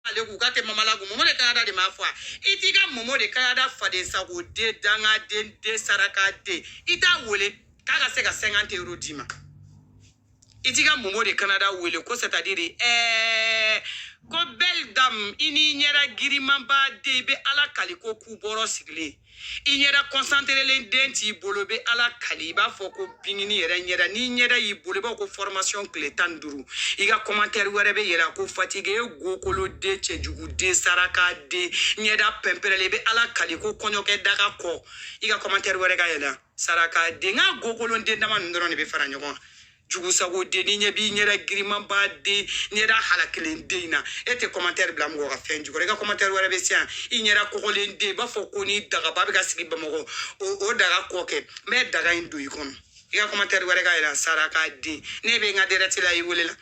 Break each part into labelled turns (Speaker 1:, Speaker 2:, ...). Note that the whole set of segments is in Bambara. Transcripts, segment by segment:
Speaker 1: ale k'u ka kɛ mamalagu mɔmɔ de kanada de m'a fɔ a i t'i ka mɔmɔ de kanada faden sago den dangaden den saraka den i t'a wele k'a ka se ka sɛnkante euro d'i ma i t'i ka mɔmɔ de kanada wele ko c'est à dire ɛɛ eh, ko belle dame i n'i ɲɛda girinmanba den i bɛ ala kali ko ku bɔrɔ sigilen i ɲɛda kɔsanterelen den t'i bolo bɛ ala kali i b'a fɔ ko bingini yɛrɛ ɲɛda n'i ɲɛda y'i bolo i b'a fɔ ko fɔrmasiyɔn tile tan ni duuru i ka kɔmantɛri wɛrɛ bɛ yɛlɛ ko fatigi ye gokolo den cɛjugu den saraka den ɲɛda pɛnpɛrɛlen i bɛ ala kali ko kɔɲɔkɛ daga kɔ i ka kɔmantɛri wɛrɛ ka yɛlɛ saraka den n ka gokolon den dama ninnu dɔrɔn de bɛ fara ɲɔgɔn kan jugusago den ni ɲɛ b'i ɲɛda girinmanba den ɲɛda halakilen den in na e tɛ kɔmantɛri bila mɔgɔ ka fɛn jukɔrɔ i ka kɔmantɛri wɛrɛ bɛ se yan i ɲɛda kɔgɔlen den i b'a fɔ ko ni dagaba bɛ ka sigi bamakɔ o o daga kɔ kɛmɛ daga in don i kɔnɔ i ka kɔmantɛri wɛrɛ ka yira saraka den ne bɛ n ka dirɛkti la i welela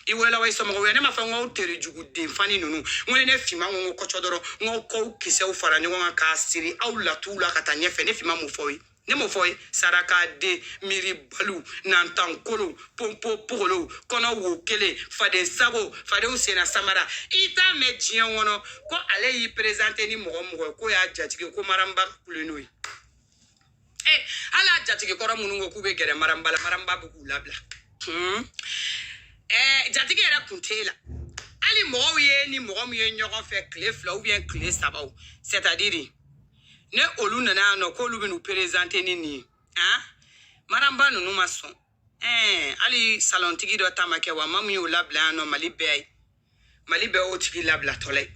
Speaker 1: i welela wa i somɔgɔ wɛrɛ ne m'a fɔ n k'aw tere jugu den fani ninnu n ko ni ne finma ko n ko kɔcɔ dɔrɔn n k'aw kɔkisɛw fara ɲɔgɔn kan k'a siri aw latuw la ka taa ɲɛfɛ ne finma mun fɔ aw ye ne m'o fɔ ye sarakaden miiribaliw nantankolow ponpo pogolow kɔnɔ wo kelen faden sago fadenw senna samara i t'a mɛn diɲɛ kɔnɔ ko ale y'i perezante ni mɔgɔ mɔgɔ ye k'o y'a jatigi ko maranba kule n'o ye e hali a jatigi kɔrɔ minnu ko k'u bɛ gɛrɛ maranba la maranba bɛ k'u labila hmm. eh, jatigi yɛrɛ kun t'e la hali mɔgɔw ye ni mɔgɔ min ye ɲɔgɔn fɛ tile fila ubiyɛn tile saba o sɛtadiri ne olu nana yan nɔ k'olu bɛn'u perezante ni nin ye han maramba ninnu ma sɔn ɛɛ hali salɔntigi dɔ ta ma kɛ wa ma min y'o labila yan nɔ mali bɛɛ ye mali bɛɛ y'o tigi labilatɔla ye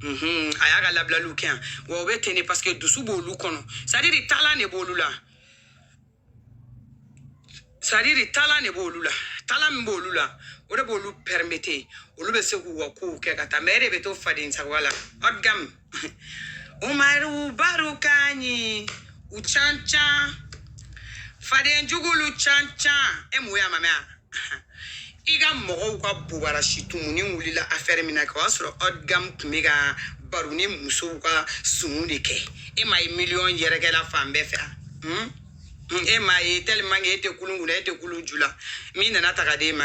Speaker 1: Mhm, a y'a ka labilaliw kɛ yan wa o bɛ ten de paseke dusu b'olu kɔnɔ sadiri talan de b'olu la sadiri talan de b'olu la talan min b'olu la o de b'olu pɛrimete olu bɛ se k'u ka kow kɛ ka taa mɛ e de bɛ to faden sagoya la ɔdgam umaru baru kanyi u can can faden jugulu can can e mun y'a mamɛya i ka mɔgɔw ka bobarasi tumunin wulila afɛɛri min na kɛ o y'a sɔrɔ ɔdgamu tun bɛ ka baroni musow ka sumu de kɛ e m'a ye miliyɔn yɛrɛkɛla fan bɛɛ fɛ hmm? hmm, e m'a ye tellement que e tɛ kulun kunna e tɛ kulun ju la min nana taga d'e ma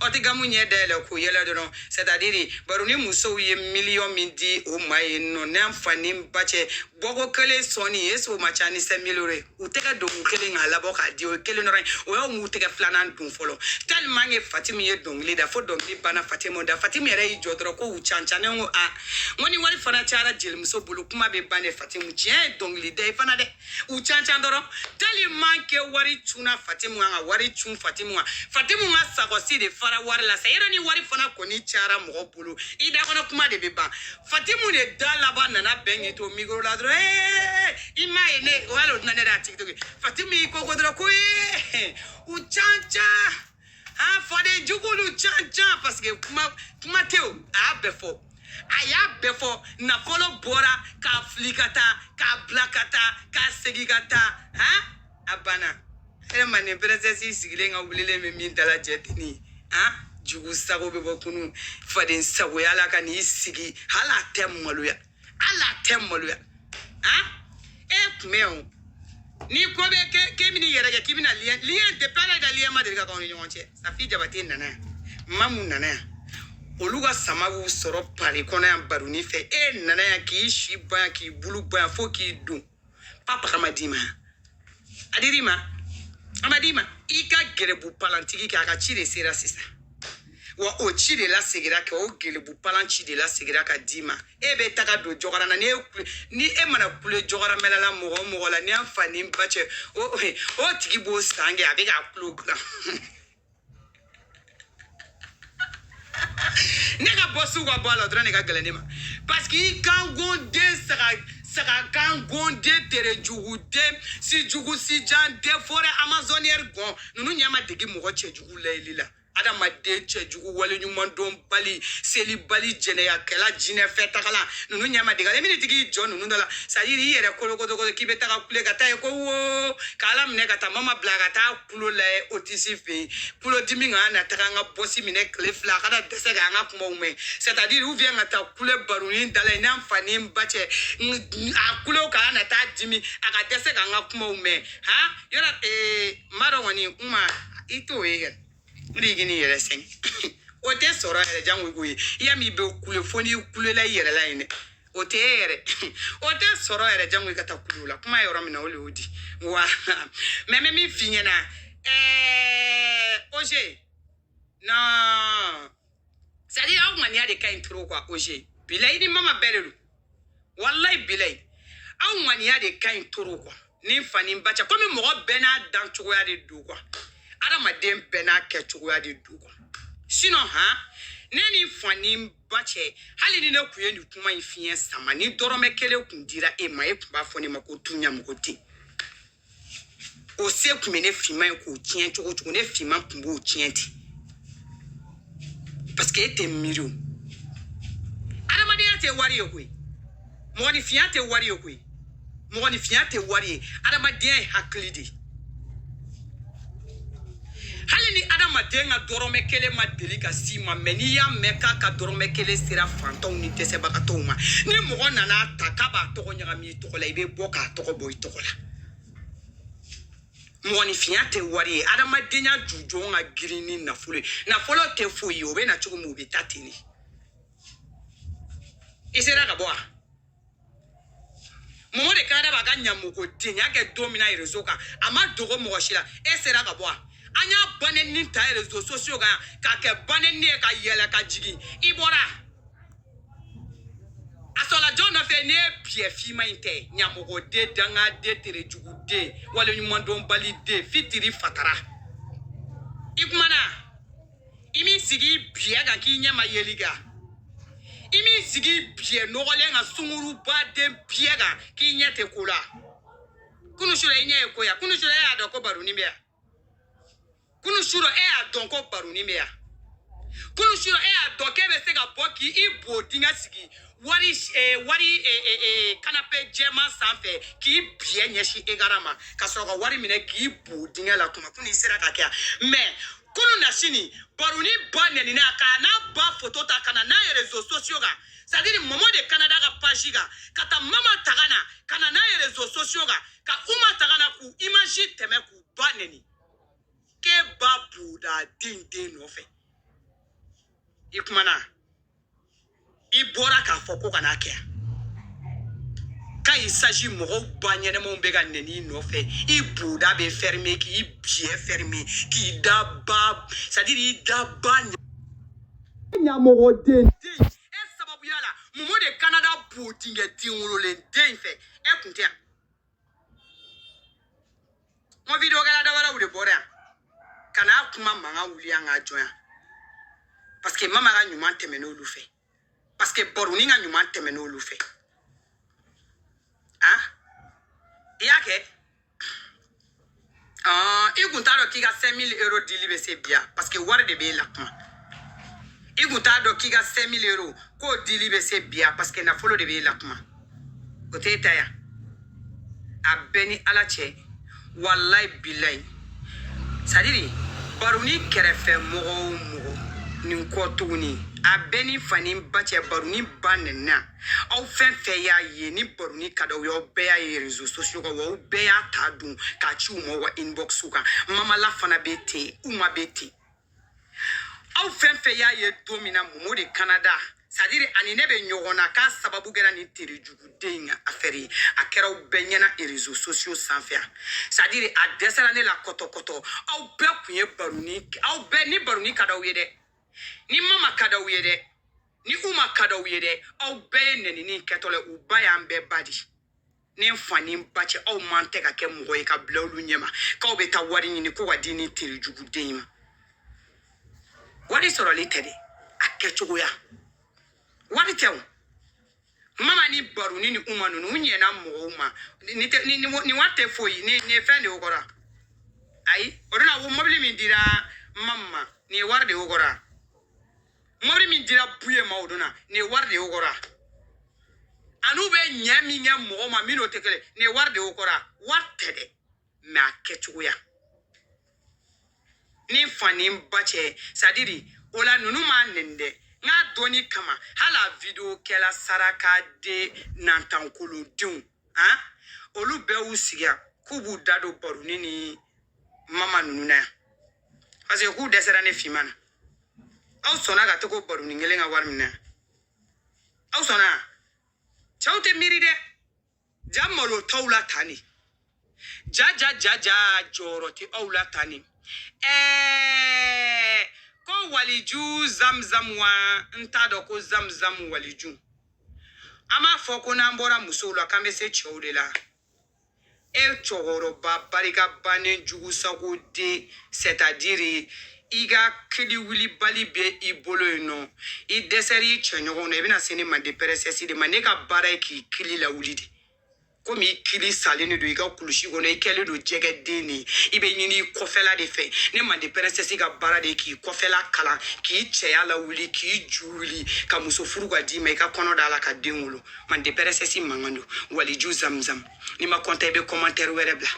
Speaker 1: ɔdgamu ɲɛ dayɛlɛ k'o yɛlɛ dɔrɔn sɛtadiri baroni musow ye miliyɔn min di o ma ye nɔ n'an fa ni ba cɛ bɔko kelen sɔnni e s'o ma ca ni sɛ miliyɔn ye u tɛgɛ don ko kelen k'a labɔ k'a di o ye kelen dɔrɔn ye o y'u m'u tɛgɛ filanan don fɔlɔ tellement que fatimu ye dɔnkili da fo dɔnkili banna fatimu da fatimu yɛrɛ y'i jɔ dɔrɔn ko u can can ne ko a n ko ni wari fana cayara jelimuso bolo kuma bɛ ban dɛ fatimu tiɲɛ ye dɔnkili da ye fana dɛ u can can dɔrɔn tellement que wari cunna fatimu kan ka wari cun fatimu kan fatimu ka sakɔsi de fara wari la sa yɛrɛ ni wari fana kɔni cayara mɔgɔ bolo i da kɔnɔ kuma de bɛ ban fatimu de da laban nana bɛn k'i to mikoro la dɔrɔn ee i m'a ye ne o y'ale o dunan ne de y'a tiktok fatimu y'i koko dɔrɔn ko ee u can can an faden jugulu can can parce que kuma kuma tɛ o a y'a bɛɛ fɔ a y'a bɛɛ fɔ nafolo bɔra k'a fili ka taa k'a bila ka taa k'a segin ka taa han a banna e manden princesse sigilen ka wulilen bɛ min dala jɛ denni ye han jugu sago bɛ bɔ kunu faden sago yaala ka n'i sigi hali a tɛ maloya hali a tɛ maloya han e kun bɛ yan o ni ko bɛ kɛ k'e bɛna i yɛrɛ kɛ k'i bɛna lien lien depuis ala da lien ma deli ka k'aw ni ɲɔgɔn cɛ safi jabate nana yan mamu nana yan olu ka sama b'u sɔrɔ pari kɔnɔ yan baroni fɛ e nana yan k'i si ban yan k'i bulu ban yan fo k'i don papa k'a ma d'i ma a dir'i ma a ma d'i ma i ka gelebu palantigi kɛ a ka ci de sera sisan wa o ci de lasegira kɛ o gelebu palan ci de lasegira ka d'i ma e bɛ taga don jɔgɔrana ni e kule- ni e mana kule jɔgɔramɛlala mɔgɔ o mɔgɔ la ni an fa ni n ba cɛ o o tigi b'o san kɛ a bɛ k'a tulo dilan ne ka bɔsiw ka bɔ a la dɔrɔn de ka gɛlɛn ne ma parce que i kan gɔnden saga saga kan gɔnden tere jugu den si jugu si jan den forêt amazonienne gɔn ninnu ɲɛ ma dege mɔgɔ cɛjugu layeli la adamaden cɛjugu waleɲumandɔnbali selibali jɛnɛyakɛla jinɛfɛtagala ninnu ɲɛ ma dege ale mini tigi jɔ ninnu dɔ la c'est à dire i yɛrɛ kolokotokoto k'i bɛ taga kule ka taa ye ko wo k'ala minɛ ka taa mama bila ka taa tulo lajɛ otisi fɛ yen tulodimi kana na taga an ka bɔsi minɛ tile fila a kana dɛsɛ k'an ka kumaw mɛn c'est à dire ou bien ka taa kule baronin dala yen an fa ni n ba cɛ a tulo kana na taa dimi a ka dɛsɛ k'an ka kumaw mɛn ha yɔrɔ ee n b'a dɔn kɔni n ma i t'o ye kɛ o de ye k'i ni yɛrɛ sɛgɛn o tɛ sɔrɔ yɛrɛ jango i k'o ye i y'a min i bɛ kule fo n'i kulela i yɛrɛ la yen dɛ o tɛ e yɛrɛ o tɛ sɔrɔ yɛrɛ jango i ka taa kule o la kuma yɔrɔ min na o de y'o di wa mais n bɛ min f'i ɲɛna ɛɛ oze non c'est à dire aw ŋaniya de ka ɲi trop quoi oze bilayi ni mama bɛɛ de don walayi bilayi aw ŋaniya de ka ɲi trop quoi ni fa ni ba cɛ komi mɔgɔ bɛɛ n'a dan cogoya de don kuwa adamaden bɛɛ n'a kɛ cogoya de don kuwa sinɔn han ne ni fa ni ba cɛ hali ni ne kun ye nin kuma in fiɲɛ sama ni dɔrɔmɛ kelen kun dira e ma e kun b'a fɔ ne ma ko tu ɲamɔgɔden o se kun bɛ ne finman ye k'o tiɲɛ cogo cogo ne finman kun b'o tiɲɛ ten paseke e tɛ miiri o adamadenya tɛ wari ye koyi mɔgɔninfinya tɛ wari ye koyi mɔgɔninfinya tɛ wari ye adamadenya ye hakili de ye hali ni adamaden ka dɔrɔmɛ kelen ma deli ka s'i ma mɛ n'i y'a mɛn k'a ka dɔrɔmɛ kelen sera fantanw ni dɛsɛbagatɔw ma ni mɔgɔ nana ta k'a b'a tɔgɔ ɲagami i tɔgɔ la i bɛ bɔ k'a tɔgɔ bɔ i tɔgɔ la mɔgɔninfinya tɛ wari ye adamadenya jujɔn ka girin ni nafolo ye nafolo tɛ foyi ye o bɛ na cogo min o bɛ taa ten de i sera ka bɔ wa mɔmɔ de kanada b'a ka ɲamɔgɔdenya kɛ don min na rezo kan a ma dogo mɔgɔ si la e sera ka bɔ wa an y'a banɛni ta rezo sosiyo kan k'a kɛ banɛni ye ka yɛlɛ ka jigin i bɔra a sɔrɔla jɔn nɔfɛ ne ye biyɛ finman in tɛ ɲamɔgɔden dangaden terejuguden waleɲumandɔnbaliden fitiri fatara i kumana i m'i sigi biyɛ kan k'i ɲɛ ma yeli kan i m'i sigi biyɛ nɔgɔlen kan sungurubaden biyɛ kan k'i ɲɛ tɛ ko la kunu sura i ɲɛ ye ko ya kunu sura e y'a dɔn ko baroni bɛ yan kunu surɔ e y'a dɔn ko baroni bɛ yan kunu surɔ e y'a dɔn k'e bɛ se ka bɔ k'i bo dingɛ sigi wari eh, wari eh, eh, eh, kanape jɛman sanfɛ k'i biyɛ ɲɛsin ekaran ma ka sɔrɔ ka wari minɛ k'i bo dingɛ la kuma kunu i sera ka kɛ yan mɛ kununasini baroni ba nɛnina k'a n'a ba foto ta ka na n'a ye rezo sosiyo kan sadiri mɔmɔ de kanada ka paji kan ka taa mama taga na ka na n'a ye rezo sosiyo kan ka uma taga na k'u imaji tɛmɛ k'u ba neni kɛ ba boda den den nɔfɛ i kumana i bɔra k'a fɔ ko kana kɛ ka i saji mɔgɔw ba ɲɛnamaw bɛ ka nɛni i nɔfɛ i boda bɛ fɛrime k'i biyɛ fɛrime k'i da ba sadiri i da ba ɲamɔgɔden e sababuya la mɔmɔ de kanada bo dingɛ den wololen den fɛ e kun tɛ yan n ko video kɛla dɔ wɛrɛw de bɔra yan ka na kuma mankan wuli yan k'a jɔ yan parce que mama ka ɲuman tɛmɛnen olu fɛ parce que baroni ka ɲuman tɛmɛnen olu fɛ an i y'a kɛ i kun t'a dɔn k'i ka 5000 euro dili bɛ se bi yan parce que wari de b'e la kuma i kun t'a dɔn k'i ka 5000 euro k'o dili bɛ se bi yan parce que nafolo de b'e la kuma o t'e ta yan a bɛɛ ni ala cɛ walayi bilayi sadiri baroni kɛrɛfɛ mɔgɔ o mɔgɔ nin kɔ tuguni a bɛɛ ni fa ni ba cɛ baroni ba nɛnina aw fɛn fɛn y'a ye ni baroni ka d'aw ye aw bɛɛ y'a ye rezo sosiyo kan wa aw bɛɛ y'a ta dun k'a ci u ma u ka inboxu kan mama la fana bɛ ten uma bɛ ten aw fɛn fɛn y'a ye don min na momo de kanada sadiri ani ne bɛ ɲɔgɔn na k'a sababu kɛra nin terejuguden in ka afɛri ye a kɛra aw bɛɛ ɲɛna rezo sosiyo sanfɛ a sadiri a dɛsɛra ne la kɔtɔkɔtɔ aw bɛɛ tun ye baroni aw bɛɛ ni baroni ka d'aw ye dɛ ni mama ka d'aw ye dɛ ni uma ka d'aw ye dɛ aw bɛɛ ye nɛnini kɛtɔ la u ba y'an bɛɛ ba di ni fa ni ba cɛ aw man tɛ ka kɛ mɔgɔ ye ka bila olu ɲɛma k'aw bɛ taa wari ɲini ko ka di ni terejuguden in ma wari sɔrɔli tɛ dɛ a kɛcogoya wari tɛ o mama ni baroni ni uma ninnu u ɲɛna mɔgɔw ma ni tɛ- ni- ni wa- ni wari tɛ foyi ni ni fɛn de y'o kɔrɔ ayi o de la ko mɔbili min dira mama ma ni wari de y'o kɔrɔ mɔbili min dira buye ma o don na ni wari de y'o kɔrɔ an'u bɛ ɲɛ min kɛ mɔgɔ ma min n'o tɛ kelen ni wari de y'o kɔrɔ wari tɛ dɛ mɛ a kɛcogoya ni fa ni ba cɛ sadiri o la ninnu m'a nɛni dɛ n k'a dɔnni kama hali a video kɛla saraka de nantankolodenw han olu bɛɛ y'u sigi yan k'u b'u da don baroni ni mama ninnu na yan parce que k'u dɛsɛra ne finman na aw sɔnna ka to ko baroni kelen ka wari minɛ aw sɔnna cɛw tɛ miiri dɛ ja malo t'aw la tan ni ja ja ja ja jɔyɔrɔ tɛ aw la tan ni ɛɛ ko waliju zamzam wa n t'a dɔn ko zamzam waliju an b'a fɔ ko n'an bɔra musow la k'an bɛ se cɛw de la e cɛkɔrɔba barika bannen jugu sago den sɛtadiri i ka kili wulibali bɛ i bolo yen nɔ i dɛsɛra i cɛɲɔgɔnw na i bɛna se ne manden pɛrɛsɛsi de ma ne ka baara ye k'i kili lawuli de komi i kili salen de don i ka kulusi kɔnɔ i kɛlen don jɛgɛden de ye i bɛ ɲini i kɔfɛla de fɛ ne manden pɛrɛsɛsi ka baara de ye k'i kɔfɛla kalan k'i cɛya lawuli k'i ju wuli ka muso furu ka d'i ma i ka kɔnɔ d'a la ka den wolo mande pɛrɛsɛsi mankan don waliju zamzam n'i ma kɔnta i bɛ kɔmantɛri wɛrɛ bila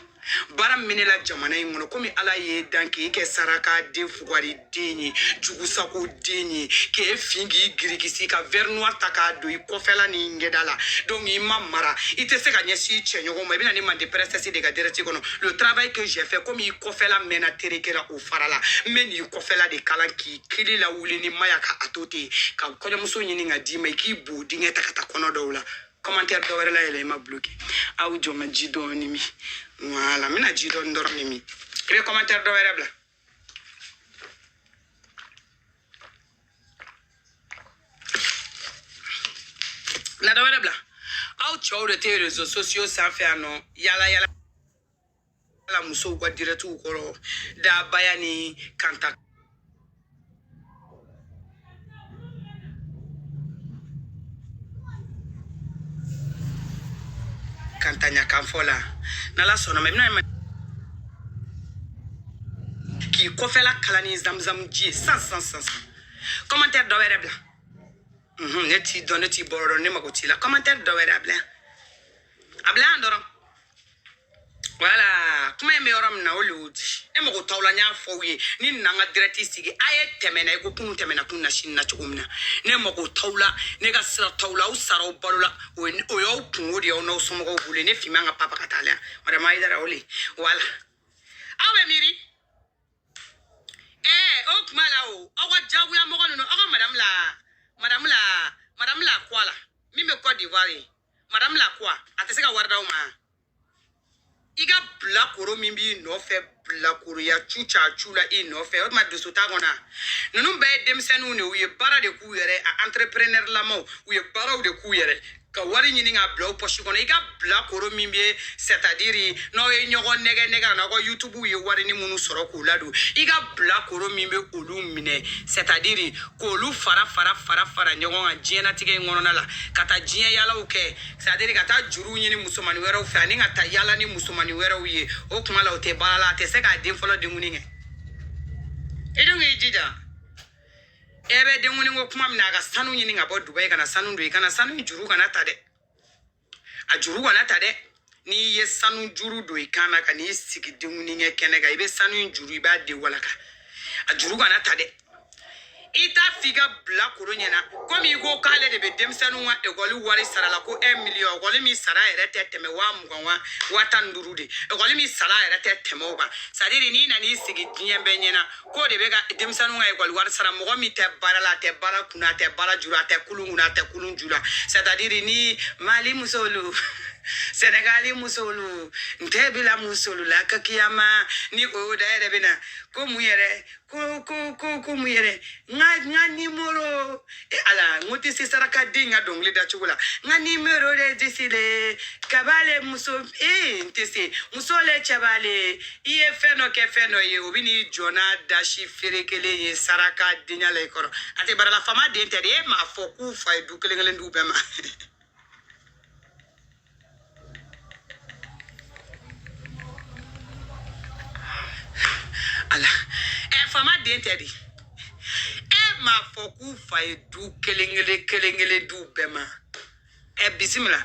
Speaker 1: baara min bɛ ne la jamana in kɔnɔ komi ala y'e dan k'e kɛ saraka den fugari den ye jugusago den ye k'e fin k'i girikisi ka verre noir ta k'a don i kɔfɛla ni ɲɛda la donc i ma mara i tɛ se ka ɲɛsin i cɛɲɔgɔn ma i bɛna ne mande pɛrɛsɛsi de ka dirɛti kɔnɔ le travail que j'ai fait komi i kɔfɛla mɛnna tereke la o farala n bɛ n'i kɔfɛla de kala k'i kili lawuli ni maya ka a to ten ka kɔɲɔmuso ɲini ka d'i ma i k'i bo dingɛ ta ka taa kɔnɔ d'o la commentaire dɔ wɛrɛ la yɛlɛ i ma bloqué aw jɔ ma ji dɔɔni min voilà n bɛna ji dɔɔni dɔrɔn de min i bɛ commentaire dɔ wɛrɛ bila na dɔ wɛrɛ bila aw cɛw de tɛ réseaux sociaux sanfɛ yan nɔ yala yala ala musow ka dirɛtiw kɔrɔ dabaya ni kanta kantanya kan fɔ la n'ala sɔnna a ma i bɛna k'i kɔfɛla kala ni zamzam ji ye san san san san kɔmantɛri dɔ wɛrɛ bila ne t'i dɔn ne t'i bɔyɔrɔ dɔn ne mago t'i la kɔmantɛri dɔ wɛrɛ a bila yan a bila yan dɔrɔn voilà kuma in bɛ yɔrɔ min na o le y'o di ne mago t'aw la n y'a fɔ aw ye ne nana n ka dirɛti sigi a ye tɛmɛna i ko kunun tɛmɛna kunasini na cogo min na ne mago t'aw la ne ka sira t'aw la aw sara aw balola o ye o y'aw kunko de ye aw n'aw somɔgɔw bolo ye ne fin man ka papa ka taa la yan madame ayidara o le ye voilà aw bɛ miiri ɛɛ o tuma la o aw ka jagoya mɔgɔ ninnu aw ka madame la madame la madame la kuwa la min bɛ cote d'ivoire ye madame la kuwa a tɛ se ka wari d'aw ma i ka bilakoro min b'i nɔfɛ bilakoroya cu ca cu la i nɔfɛ o tuma dusu t'a kɔnɔ ninnu bɛɛ ye denmisɛnninw de u ye baara de k'u yɛrɛ a entrepreneur lamaw u ye baaraw de k'u yɛrɛ ka wari ɲini ka bila u pɔsi kɔnɔ i ka bilakoro min bɛ sɛtadiri n'aw ye ɲɔgɔn nɛgɛ nɛgɛ n'aw ka yutubu ye warinin minnu sɔrɔ k'u ladon i ka bilakoro min bɛ olu minɛ sɛtadiri k'olu fara fara fara fara ɲɔgɔn kan diɲɛlatigɛ in kɔnɔna la ka taa diɲɛ yaalaw kɛ sadiri ka taa juru ɲini musomani wɛrɛw fɛ ani ka taa yala ni musomani wɛrɛw ye o kuma la o tɛ baara la a tɛ se k'a den fɔlɔ denkuni kɛ i dun k'i jija e bɛ denkuni kɛ kuma min na a ka sanu ɲini ka bɔ dubayi ka na sanu don i kan na sanu juru kana ta dɛ a juru kana ta dɛ n'i ye sanu juru don i kan na ka n'i sigi denkuni kɛ kɛnɛ kan i bɛ sanu juru i b'a de walaka a juru kana ta dɛ i t'a f'i ka bilakoro ɲɛna komi i ko k'ale de bɛ denmisɛnninw ka ekɔli wari sara la ko un miliyɔn ekɔli min sara yɛrɛ tɛ tɛmɛ waa mugan wa waa tan ni duuru de ekɔli min sara yɛrɛ tɛ tɛmɛ o kan sɛtadiri n'i nana i sigi diɲɛ bɛɛ ɲɛna k'o de bɛ ka denmisɛnninw ka ekɔli wari sara mɔgɔ min tɛ baara la a tɛ baara kunna a tɛ baara ju la a tɛ kulun kunna a tɛ kulun ju la sɛtadiri ni mali musolu sɛnɛgali musolu n tɛ bila musolu la ka kiyama ni o da yɛrɛ bɛ na ko mun yɛrɛ ko ko ko ko mun yɛrɛ n ka n ka nimoro e ala n ko tɛ se saraka den ka dɔnkili da cogo la n ka nimoro de disi le kaba le muso ee n tɛ se muso le cɛba le i ye fɛn dɔ kɛ fɛn dɔ ye o bɛ n'i jɔ n'a dasi feere kelen ye saraka denya la i kɔrɔ a tɛ baara la faama den tɛ dɛ e m'a fɔ k'u fa ye du kelen kelen d'u bɛɛ ma. ala ɛ faama den tɛ de e m'a fɔ k'u fa ye du kelen kelen kelen kelen d'u bɛɛ ma ɛ bisimila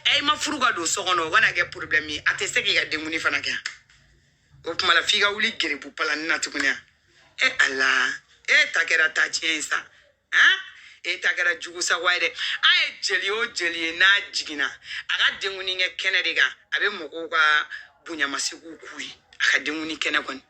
Speaker 1: ɛ i ma furu ka don so kɔnɔ o kana kɛ porobilɛmu ye a tɛ se k'i ka denkundi fana kɛ o tuma la f'i ka wuli gerebu palan nin na tuguni ɛ ala e ta kɛra ta tiɲɛ ye sa han e ta kɛra jugu sagoya ye dɛ a ye jeli o jeli ye n'a jiginna a ka denkundi kɛ kɛnɛ de kan a bɛ mɔgɔw ka bonyamasegiw k'u ye a ka denkundi kɛnɛ kɔni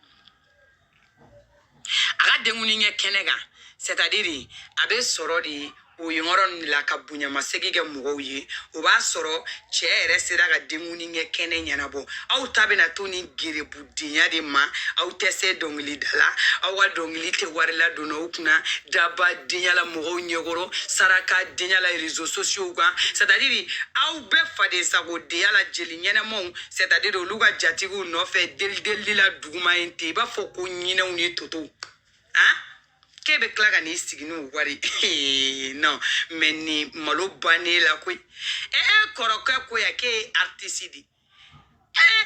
Speaker 1: a ka denkundi kɛ kɛnɛ kan sɛtadiri a bɛ sɔrɔ de o yɔrɔ nin la ka bonyamasegi kɛ mɔgɔw ye o b'a sɔrɔ cɛ yɛrɛ sera ka denkundi kɛ kɛnɛ ɲɛnabɔ aw ta bɛna to ni gerebu denya de ma aw tɛ se dɔnkilida la aw ka dɔnkili tɛ wari ladonna aw kunna daba denya la mɔgɔw ɲɛkɔrɔ saraka denya la rezo sosiyow kan sɛtadiri aw bɛɛ faden sago denya la jeli ɲɛnamaw sɛtadiri olu ka jatigiw nɔfɛ delidelili la duguma ye ten i b'a fɔ ko ɲinɛw ni totow han k'e bɛ tila ka n'i sigi n'o wari ye non mɛ nin malo bannen la koyi ee kɔrɔkɛ ko yan k'e ye aritisi de ye ee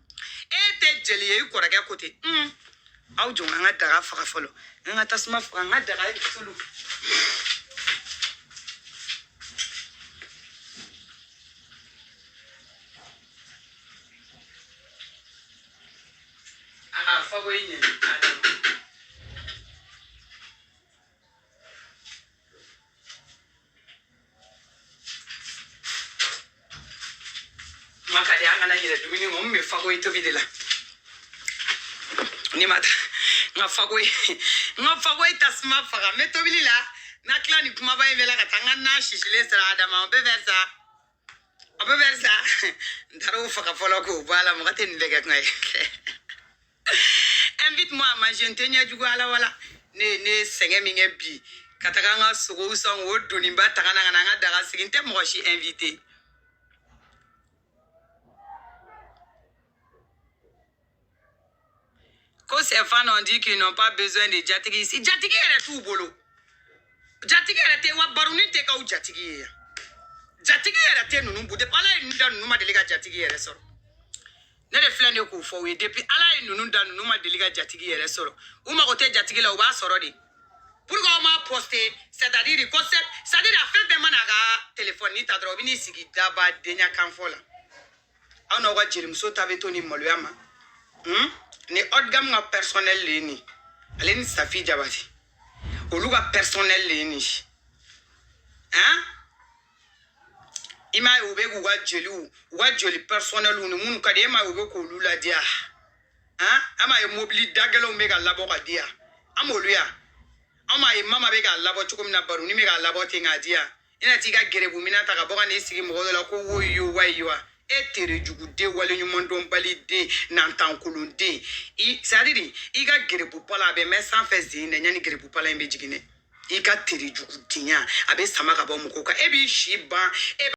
Speaker 1: e tɛ jeli ye i kɔrɔkɛ ko ten un aw jɔ an ka daga faga fɔlɔ an ka tasuma faga an ka daga ye tulu a ka fakoyi ɲɛ ma ka di an kana yɛrɛ dumuni ma n bɛ fakoyi tobi de la ne ma taa n ka fakoyi n ka fakoyi tasuma faga n bɛ tobili la n'a tila ni kumaba in bɛɛ la ka taa n ka na sisilen sɔrɔ a dama o bɛ fɛ sa A bɛ bɛri sa n taara o faga fɔlɔ k'o bɔ a la mɔgɔ tɛ nin bɛɛ kɛ kuma ye invite moi à manger n tɛ ɲɛ jugu ala wala ne ye ne ye sɛgɛn min kɛ bi ka taga an ka sogow san k'o doniba ta ka na ka na an ka daga sigi n tɛ mɔgɔ si invité ko ses fans ont dit qu'ils n'ont pas besoin de jatigi ici jatigi yɛrɛ t'u bolo jatigi yɛrɛ tɛ wa baroni tɛ k'aw jatigi ye yan jatigi yɛrɛ tɛ ninnu bolo depuis ala ye ninnu da ninnu ma deli ka jatigi yɛrɛ sɔrɔ ne de filɛ ne k'o fɔ u ye depuis ala ye ninnu da ninnu ma deli ka jatigi yɛrɛ sɔrɔ u mago tɛ jatigi la u b'a sɔrɔ de pourquoi aw m'a poster c'est à dire ko c'est à dire a fɛn fɛn mana a ka telefɔni ta dɔrɔn u bɛ n'i sigi daba denya kanfɔ la aw n'aw ka jelimuso ta bɛ to ni maloya ma hmm? ni haute gamme ka personnel le ye nin ale ni safi jabatɛ olu ka personnel le ye nin si han i m'a ye u bɛ k'u ka jeliw u ka jeli personnelw ni minnu ka di e m'a ye u bɛ k'olu ladiya han an m'a ye mobili dagɛlɛnw bɛ ka labɔ ka di yan an m'olu yan an m'a ye mama bɛ k'a labɔ cogo min na baroni bɛ k'a labɔ ten k'a di yan i na t'i ka gɛrɛbu mina ta ka bɔ ka n'i sigi mɔgɔ dɔ la ko woyo wayi wa e tere jugu den waleɲuman dɔnbali den nantankolon den c'est à dire i ka gɛrɛbu pala a bɛ mɛn sanfɛ zen na yanni gɛrɛbu pala in bɛ jigin dɛ i ka tere jugu denya a bɛ sama ka bɔ mɔgɔw kan e b'i si ban e